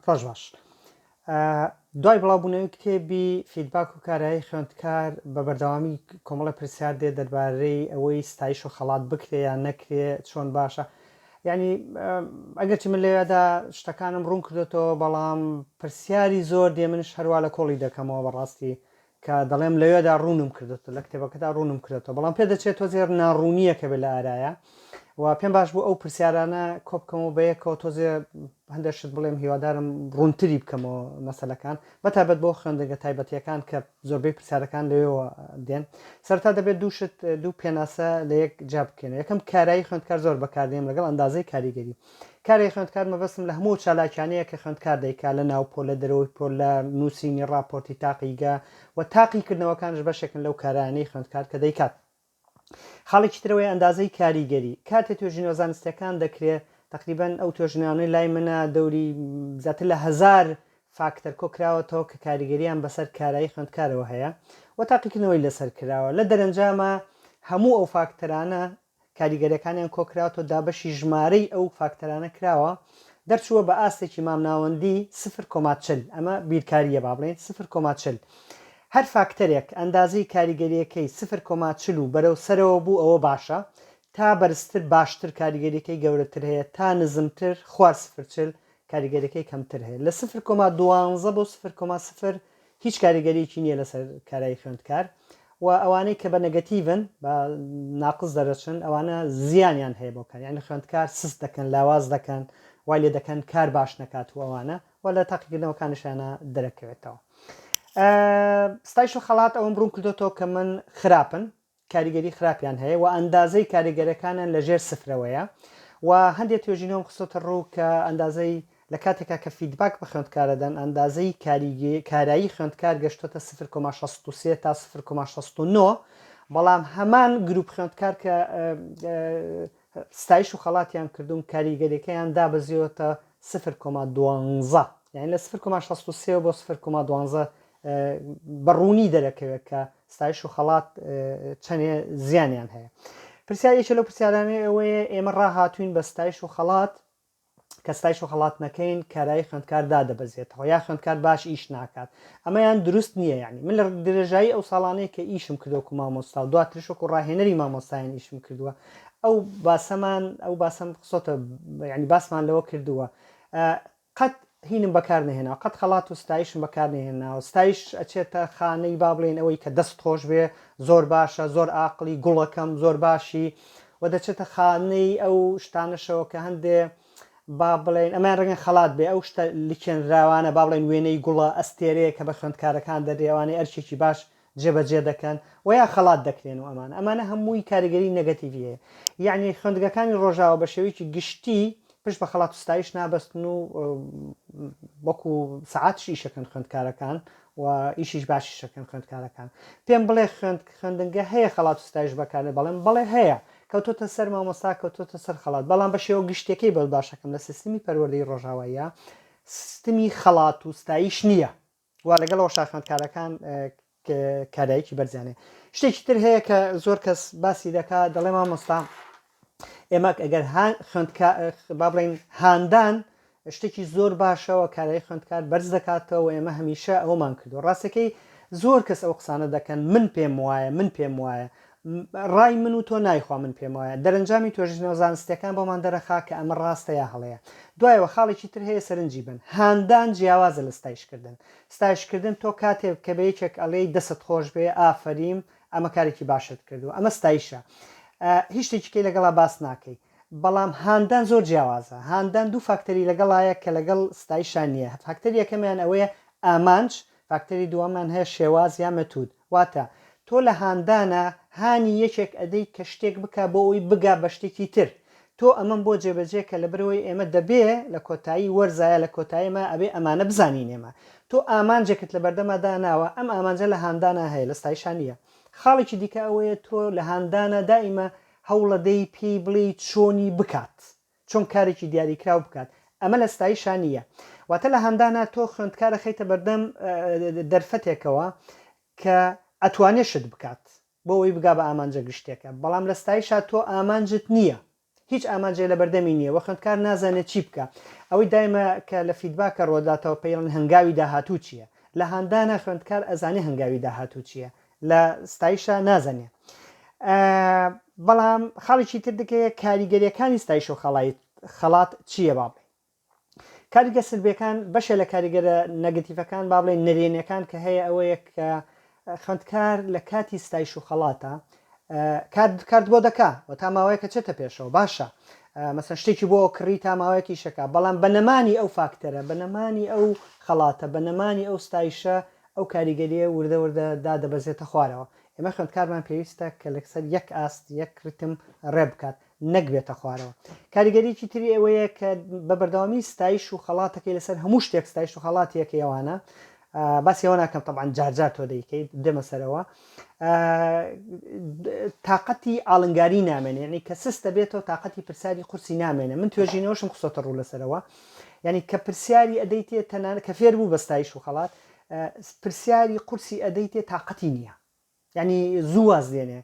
ڕۆژ باش. دوای بڵاوبوونەوەی کتێبی فیدباک و کارایی خوێندکار بە بەردەوامی کۆمەڵە پرسیار دێ دەربارەی ئەوەی ستایش و خەڵات بکرێ یان نەکرێ چۆن باشە یعنی ئەگەرچی من لەوێدا شتەکانم ڕوون کردێتەوە بەڵام پرسیاری زۆر دێ منش هەروە لە کۆڵی دەکەمەوە بەڕاستی کە دەڵێم لەوێدا ڕوونم کردێتەوە لە کتێبەکەدا ڕوونم کرێتەوە بەڵام پێ دەچێت تۆزێر ناڕوونیەکە بێ لە ئارایە و پێم باش بوو ئەو پرسیارانە کۆبکەمەوە بە یەکەوە تۆزێ هەندێک شت بڵێم هیوادارم ڕوونتری بکەمەوە مەسلەکان بەتابەت بۆ خوێندەگە تایبەتیەکان کە زۆربەی پرسیارەکان لەوێەوە دێن سەرتا دەبێت دووشت دوو پێناسە لە یەک جا بکەێنە یەکەم کارایی خوێندکار زۆر بەکاردێن لەگەڵ ئەندازەی کاریگەری کارگەی خوێندکار مەبەستم لە هەموو ئەو چالاکیانەیە کە خوێندکار دەیکات لە ناو پۆل، لە دەرەوەی پۆل، لە نووسینی ڕاپۆرتی تاقیگە و تاقیکردنەوەکانش بەشێکن لەو کارانەی خوێندکار کە دەیکات. خاڵێکی تر ئەوەیە ئەندازەی کاریگەری. کاتێ توێژینەوە زانستییەکان دەکرێ، تەقریبەن ئەو توێژینەوانەی لای منە دەوری زیاتر لە هەزار فاکتەر کۆ کراوەتەوە کە کاریگەرییان بەسەر کارایی خوێندکارەوە هەیە و تاقیکردنەوەی لەسەر کراوە. لە دەرەنجاما هەموو ئەو فاکتەرانە کاریگەریەکانیان کۆکراوەتەوە دابەشی ژمارەی ئەو فاکتەرانە کراوە دەرچووە بە ئاستێکی مامناوەندی سفر کۆما چل ئەمە بیرکاریە با بڵێین سفر کۆما چل هەر فاکتەرێک ئەندازەی کاریگەریەکەی سفر کۆما چل و بەرەو سەرەوە بوو ئەوە باشە تا بەرزتر باشتر کاریگەریەکەی گەورەتر هەیە تا نزمتر خوار سفر چل کاریگەریەکەی کەمتر هەیە لە سفر کۆما دوانزە بۆ سفر کۆما سفر هیچ کاریگەریەکی نیە لەسەر کارایی خوێندکار و ئەوانەی کە بە نەگەتیڤن بە ناقس دەرەچن ئەوانە زیانیان هەیە بۆ کار یعنی خوێندکار سست دەکەن لاواز دەکەن وای لێ دەکەن کار باش نەکات و ئەوانە و لە تاقیکردنەوەکانشانە دەرەکەوێتەوە ستایش و خەڵات ئەوم بڕوون کردوێتەوە کە من خراپن کاریگەری خراپیان هەیە و ئەندازەی کاریگەرەکانیان لە ژێر سفرەوەیە و هەندێ توێژینەوەم خستۆتە ڕوو کە ئەندازەی لە کاتێکا کە فیدباک بە خوێندکارە دەن ئەندازەی کاریگە کارایی خوێندکار گەشتۆتە 0,63 تا 0,69 بەڵام هەمان گروپ خوێندکار کە ستایش و خەڵاتیان کردوون کاریگەریەکەیان دابەزیۆتە 0,12 یعنی لە 0,63 بۆ 0,12 بە ڕوونی دەرەکەوێت کە ستایش و خەڵات چەندێ زیانیان هەیە پرسیار یەکێ لەو پرسیارانەی ئەوەیە ئێمە ڕاهاتوین بە ستایش و خەڵات کە ستایش و خەڵات نەکەین کارایی خوێندکار دادەبەزێتەوە یا خوێندکار باش ئیش ناکات ئەمەیان دروست نییە یعنی من لە درێژایی ئەو ساڵانەیە کە ئیشم کردوەکو مامۆستا و دواترش وەکو ڕاهێنەری مامۆستایان ئیشم کردووە ئەو باسەمان ئەو باسەم قسۆتە ینی باسمان لەوە کردووە قەت هینم بەکار نەهێناوە قەت خەڵات و ستایشم بەکار نەهێناوە ستایش ئەچێتە خانەی با بڵێین ئەوەی کە دەست خۆش بێ زۆر باشە زۆر ئاقڵی گوڵەکەم زۆر باشی و دەچێتە خانەی ئەو شتانەشەوە کە هەندێ با بڵێن ئەمەیان ڕەنگە خەڵات بێ ئەو شتە لکێنراوانە با بڵێن وێنەی گوڵە ئەستێرەیە کە بە خوێندکارەکان دەدرێ ئەوانەی ئەرکێکی باش جێبەجێ دەکەن و یا خەڵات دەکرێن و ئەمانە ئەمانە هەمووی کاریگەری نەگەتیڤی هەیە یەعنی خوێندگەکانی ڕۆژاوا بە شێوەیەکی گشتی پشت بە خەڵات و ستایش نابەستن و وەکو سەعاتش ئیشەکەن خوێندکارەکان و ئیشیش باشیشەکەن خوێندکارەکان پێم بڵێ خوێند خوێندنگە هەیە خەڵات و ستایش بەکارێ بەڵێم بەڵێ هەیە کەوتۆتە سەر مامۆستا کەوتۆتە سەر خەڵات بەڵام بە شێوە گشتەکەی بەس باشەکەم لە سیستمی پەروەردەی ڕۆژاواییە سیستمی خەڵات و ستایش نییە وا لەگەڵ ئەوە شاخوێندکارەکان کارایکی بەرزیانێ شتێکی تر هەیە کە زۆر کەس باسی دەکا دەڵێ مامۆستا ئێمەک ئەگەر با بڵین هاندان شتێکی زۆر باشەوە کارای خوێندکار بەرز دەکاتەوە ئێمە هەمیشە ئەومان کردو ڕاستەکەی زۆر کەس ئەو قسانە دەکەن من پێم وایە من پێم وایە ڕای من و تۆ نایخوا من پێم وایە دەرەنجامی توێژینەوە زانستیەکان بۆمان دەرەخا کە ئەمە ڕاستە یا هەڵەیە دوایەوە خاڵێکی تر هەیە سەرنجی بەن هاندان جیاوازە لە ستایش کردن ستایش کردن تۆ کاتێ کە بە یەکێک ئەڵێی دەستت خۆش بێ ئافەریم ئەمە کارێکی باشت کردوە ئەمە ستایشە هیچ شتێکی کەی لەگەڵا باس ناکەی بەڵام هاندان زۆر جیاوازە هاندان دوو فاکتەری لەگەڵایە کە لەگەڵ ستایشان نییە فاکتەری یەکەمیان ئەوەیە ئامانج فاکتەری دووەمیان هەیە شێواز یا مەتود واتە تۆ لە هاندانا هانی یەکێک ئەدەی کە شتێک بکا بۆ ئەوەی بگا بە شتێکی تر تۆ ئەمەم بۆ جێبەجێ کە لەبەر ئەوەی ئێمە دەبێ لە کۆتایی وەرزا یا لە کۆتایی ما ئەبێ ئەمانە بزانین ئێمە تۆ ئامانجێکت لە بەردەما داناوە ئەم ئامانجە لە هاندانا هەیە لە ستایشا نییە خاڵێکی دیکە ئەوەیە تۆ لە هاندانا دائیمە هەوڵەدەی پێی بڵێی چۆنی بکات چۆن کارێکی دیاریکراو بکات ئەمە لە ستایشا نی یە واتە لە هاندانا تۆ خوێندکار ئەخەیتە بەردەم دەرفەتێکەوە کە ئەتوانێ شت بکات بۆ ئەوی بگا بە ئامانجە گشتێکە بەڵام لە ستایشا تۆ ئامانجت نی یە هیچ ئامانجێ لە بەردەمی نییە وە خوێندکار نازانێت چی بکە ئەوەی دایمە کە لە فیدباکە ڕۆداتەوە پەیڵن هەنگاوی داهاتوو چییە لە هاندانا خوێندکار ئەزانێ هەنگاوی داهاتوو چییە لە ستایشە نازەنێ بەڵام خاڵێکی تر دکەیە کاریگەریەکانی ستایش و خەڵیت خەڵات چییە با بڵێ کاریگە سلبەکان بەشێ لە کاریگەرە نەگەتیفەکان با بڵێ نەرێنەکان کە هەیە ئەوەیە کە خوندکار لە کاتی ستایش و خەڵاتە کارد بۆ دەکا و تا ماوەیەکە چێتە پێشەوە باشە مەسن شتێکی بۆ کڕی تا ماوەیەکی شەکە بەڵام بە نەمانی ئەو فاکتەرە بە نەمانی ئەو خەڵاتە بە نەمانی ئەو ستایشە ئەو کاریگەرییە وردە وردە دادەبەزێتە خوارەوە. ئێمە خوێندکارمان پێویستە کە لەسەر یەک ئاست، یەک ریتم رێ بکات، نەک بێتە خوارەوە. کاریگەریی تری ئەوەیە کە بە بەردەوامی ستایش و خەڵاتەکەی لەسەر هەموو شتێک ستایش و خەڵاتی یەکەی ئەوانە، باسی ئەوە ناکەم تەبعەن جار جار تۆ دەیکەیت، دێمە سەرەوە، تاقەتی ئاڵنگاریی نامێنێ، یەعنی کە سست دەبێتەوە تاقەتی پرسیاری قورسی نامێنێ. من توێژینەوەشم خستۆتە روو لەسەرەوە. یانی کە پرسیاری ئەدەیتێ تەنانەت کە فێر بوو بە ستایش و خەڵات پرسیاری قورسی ئەدەیتێ تاقەتی نییە یعنی زوو واز لێنێ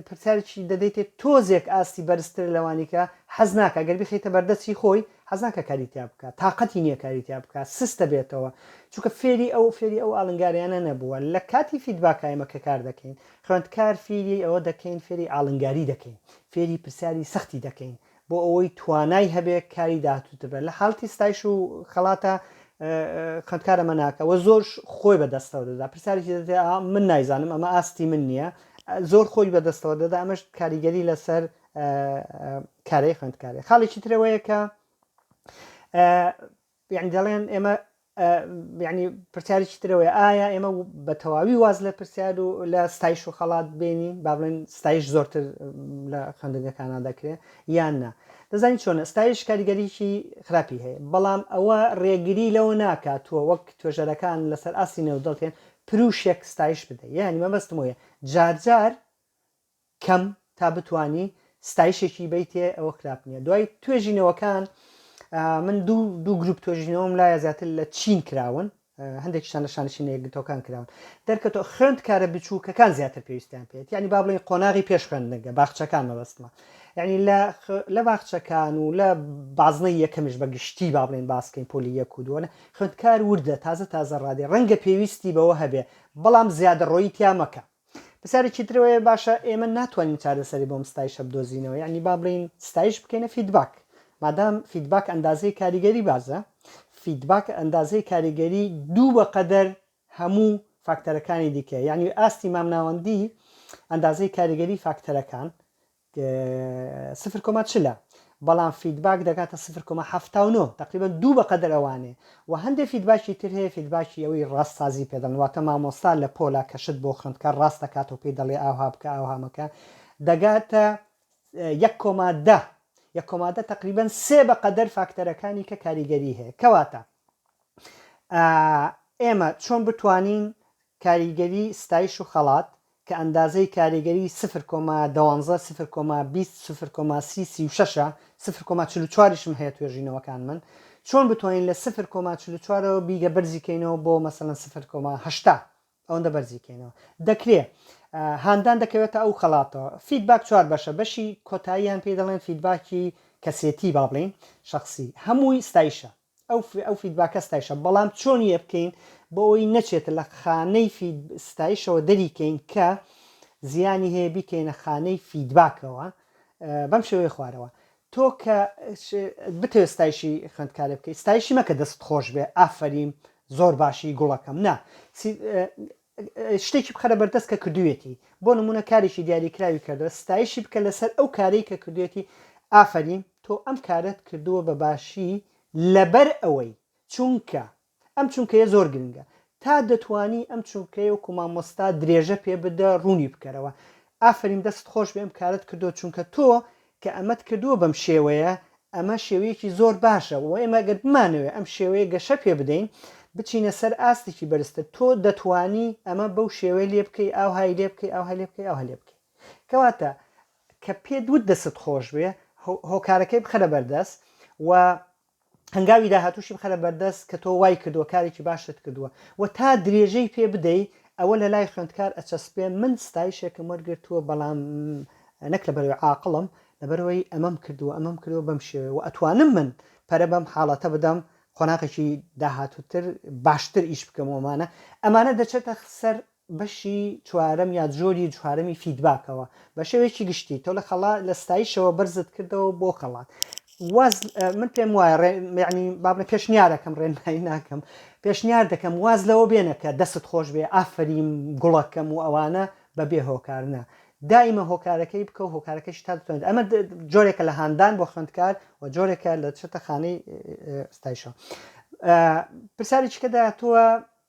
پرسیارێکی دەدەیتێ تۆزێک ئاستی بەرزتر لەوانی کە حەز ناکە گەر بخیتە بەردەستی خۆی حەزناکە کاریتیا بکە تااقەتی نییە کاریتیا بکە سستە بێتەوە چونکە فێری ئەو فێری ئەو ئالنگاریانە نەبووە لە کاتی فیدباکایمە کە کار دەکەین خوێندکار فێری ئەوە دەکەین فێری ئالنگاری دەکەین فێری پرسیاری سەختی دەکەین بۆ ئەوەی توانای هەبێ کاری داهاتووتر بێت لە حاڵتی ستایش و خەڵاتە خوێندکارە مەناکە وە زۆر خۆی بەدەستەوە دەدا پرسیارێکی دەێ من نایزانم ئەمە ئاستی من نییە زۆر خۆی بەدەستەوە دەدا ئەمەش کاریگەری لەسەر کارەی خوێندکارێ خاڵێکی ترەوەیە کە یەعنی دەڵێن ئێمە یەعنی پرسیارێکی ترەوەی ئایا ئێمە بە تەواوی واز لە پرسیار و لە ستایش و خەڵات بێنین با بڵێن ستایش زۆرتر لە خوێندنگەکانە دەکرێت یان نا دەزانین چۆنە ستایش کاریگەریی خراپی هەیە بەڵام ئەوە ڕێگری لەوە ناکات تۆ وەک توێژەرەکان لەسەر ئاستی نێودەڵتێن پروشێک ستایش بدە یعنی مەبەستمۆیە جارجار کەم تا بتوانی ستایشێکی بیتێ ئەوە خراپ نییە دوای توێژینەوەکان من دوو دوو گروپ توێژینەوەم لایە زیاتر لە چین کراون هەندێکشان لە شانشی نەیەکگرتەکان کراون دەرکەتۆ خوێند کارە بچووکەکان زیاتر پێویستیان پێێت ینی با بڵین قۆناغی پێش خوێندنگە باخچەکان مەبەستمە ینی لە باخچەکان و لە بازنە یەکەمیش بە گشتی با بڵێن باسکەین پۆلی یەک و دووەە خوێندکار وردە تازە تازە ڕادێ ڕەنگە پێویستی بەوە هەبێ بەڵام زیادە ڕۆیی تیا مەکە پرسیارێکی تر ئەوەیە باشە ئێمە ناتوانین چارەسەری بۆم ستایشە بدۆزینەوە یعنی با بڵێین ستایش بکەینە فیدباک مادام فیدباک ئەندازەی کاریگەری بازە فیدباک ئەندازەی کاریگەری دوو بەقەدەر هەموو فاکتەرەکانی دیکە یعنی ئاستی مامناوەندی ئەندازەی کاریگەری فاکتەرەکان سفر کۆما چل ە بەڵام فیدباک دەگاتە سفر کۆما حەفتا و نۆ تەقریبەن دوو بەقەدەر ئەوانێ وە هەندێ فیدباکی تر هەیە فیدباکی ئەوەی ڕاست سازی پێ دەڵێن واتە مامۆستا لە پۆلا کە شت بۆ خوێندکار ڕاست دەکاتەوە پێی دەڵێ ئاوها بکە ئاوها مەکە دەگاتە یەک کۆما دە یەک کۆما دە تەقریبەن سێ بەقەدەر فاکتەرەکانی کە کاریگەری هەیە کەواتە ئێمە چۆن بتوانین کاریگەری ستایش و خەڵات کە ئەندازەی کاریگەری سفر کۆما دوانزە، سفر کۆما بیست، سفر کۆما سی، سی و شەش ە، سفر کۆما چل و چواریشم هەیە توێژینەوەکانمن، چۆن بتوانین لە سفر کۆما چل و چوارەوە بیگە بەرزی کەینەوە بۆ مەسەلەن سفر کۆما هەشتا ئەوەندە بەرزی کەینەوە دەکرێ هاندان دەکەوێتە ئەو خەڵاتەوە فیدباک چوار بەشە بەشی کۆتاییان پێی دەڵێن فیدباکی کەسێتی با بڵێین شەخسی هەمووی ستایشە ئەو فیدباکە ستایشە بەڵام چۆن یەبکەین بۆئەوەی نەچێتە لە خانەی فید ستایشەوە دەری کەین کە زیانی هەیە بیکەینە خانەی فیدباکەوە بەم شێوەیە خوارەوە تۆ کە بتەوێت ستایشی خوێندکارێ بکەیت ستایشی مەکە دەست خۆش بێ ئافرین زۆر باشی گوڵەکەم نا شتێکی بخەرە بەردەست کە کردوویەتی بۆ نموونە کارێکی دیاریکراوی کردووە ستایشی بکە لەسەر ئەو کارەی کە کردوێتی ئافەریم تۆ ئەم کارەت کردووە بە باشی لەبەر ئەوەی چونکە ئەم چونکەیە زۆر گرنگە تا دەتوانی ئەم چونکەیە وەکو مامۆستا درێژە پێ بدە ڕوونی بکەرەوە ئافەریم دەستت خۆش بێ ئەم کارەت کردووە چونکە تۆ کە ئەمەت کردووە بەم شێوەیە، ئەمە شێوەیەکی زۆر باشە و ئێمە گەر بمانەوێت ئەم شێوەیە گەشە پێ بدەین، بچینە سەر ئاستێکی بەرزتر، تۆ دەتوانی ئەمە بەو شێوەیە لێ بکەی، ئاوهای لێ بکەی، ئاوهای لێ بکەی، ئاوهای لێ بکەی. کەواتە کە پێت وت دەستت خۆش بێ، هۆکارەکەی بخەرە بەردەست و هەنگاوی داهاتووشی بخەرە بەردەست کە تۆ وای کردووە کارێکی باشت کردووە و تا درێژەی پێ بدەی ئەوە لە لای خوێندکار ئەچەسپێ من ستایشێکم وەرگرتووە بەڵام نەک لە بەرەوەی عاقڵم لە بەرەوەی ئەمەم کردووە ئەمەم کردووە بەم شێوەیە و ئەتوانم من پەرە بەم حاڵەتە بدەم قۆناغێکی داهاتووتر باشتر ئیش بکەم ومانە ئەمانە دەچێتە سەر بەشی چوارەم یا جۆری چوارەمی فیدباکەوە بە شێوەیەکی گشتی تۆ لە خەڵا لە ستایشەوە بەرزت کردەوە بۆ خەڵات واز من پێم وایە یعنی بابە پێشنیارەکەم ڕێنمایی ناکەم پێشنیار دەکەم واز لەوە بێنە کە دەست خۆش بێ ئافریم گوڵەکەم و ئەوانە بە بێ هۆکارنە دائیمە هۆکارەکەی بکە و هۆکارەکەش تا دەتوانێت ئەمە جۆرێکە لە هاندان بۆ خوێندکار و جۆرێکە لە چێتە خانەی ستایشەوە پرسیارێکیکە داهاتووە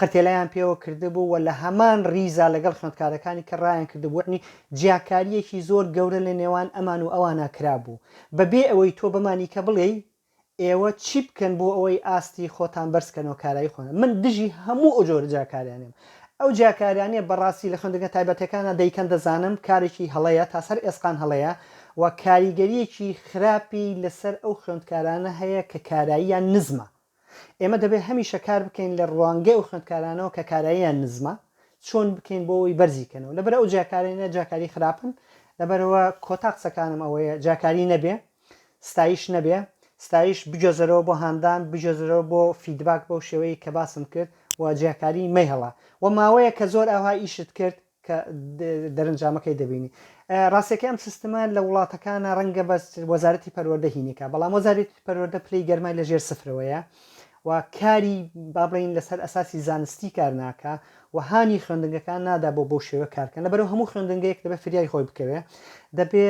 قرتێلەیان پێوە کردبوو و لە هەمان ڕیزا لەگەڵ خوێندکارەکانی کە ڕایان کردبوو، یەعنی جیاکارییەکی زۆر گەورە لە نێوان ئەمان و ئەوانا کرابوو، بە بێ ئەوەی تۆ بەمانی کە بڵێی ئێوە چی بکەن بۆ ئەوەی ئاستی خۆتان بەرز کەن و کارایی خۆتان من دژی هەموو ئەو جۆرە جیاکاریانەم. ئەو جیاکاریانەی بە ڕاستی لە خوێندنگە تایبەتەکانا دەیکەن دەزانم کارێکی هەڵەیە تا سەر ئێسقان هەڵەیە و کاریگەرییەکی خراپی لە سەر ئەو خوێندکارانە هەیە کە کاراییان نزمە. ئێمە دەبێت هەمیشە کار بکەین لە ڕوانگەی ئەو خوێندکارانەوە کە کاراییان نزمە چۆن بکەین بۆ ئەوەی بەرزی کەنەوە لەبەر ئەو جیاکارانە جیاکاری خراپن لەبەرەوە کۆتا قسەکانم ئەوەیە جیاکاری نەبێ ستایش نەبێ ستایش بگوێزەرەوە بۆ هاندان بگوێزەرەوە بۆ فیدباک بەو شێوەیەی کە باسم کرد و جیاکاری مەیهەڵە و ماوەیەکە زۆر ئەوها ئیشت کرد کە دەرنجامەکەی دەبینی ڕاستەکەی ئەم سیستمە لە وڵاتەکانە ڕەنگە بەس وەزارەتی پەروەردە هینێکە بەڵام وەزارەتی پەروەردە پلەی گەرمای لە ژێر سفرەوەیە و کاری بابڵین لەسەر ئەساسی زانستی کار ناکە و هانی خوێندنگەکان نادا بۆ بەو شێوە کارکەن لەبەرو هەموو خوێندنگەیەک دەبێت فریای خۆی بکەوێ دەبێ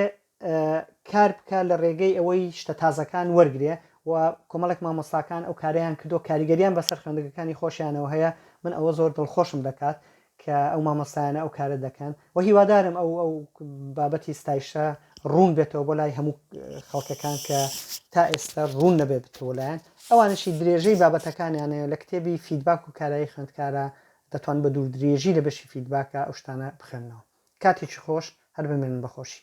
کار بکا لە رێگەی ئەوەی شتە تازەکان وەرگرێ و کۆمەڵێک مامۆستاکان ئەو کارەیان کردوە کاریگەریان بەسەر خوێندگەکانی خۆشیانەوە هەیە من ئەوە زۆر دڵخۆشم دەکات کە ئەو مامۆستایانە ئەو کارە دەکەن و هیوادارم ئەو ئەو بابەتی ستایشە روون بێتەوە بۆ لای هەموو خەڵکەکان کە تا ئێستا روون نەبێ بتەوە لایەن ئەوانشی درێژەی بابەتەکانیانەیە لە کتێبی فیدباک و کارایی خوێندکارە دەتوان بە دووردرێژی لە بەشی فیدباکا ئەو شتانە بخوێننەوە. کاتێکی خۆش، هەر بمێنن بە خۆشی.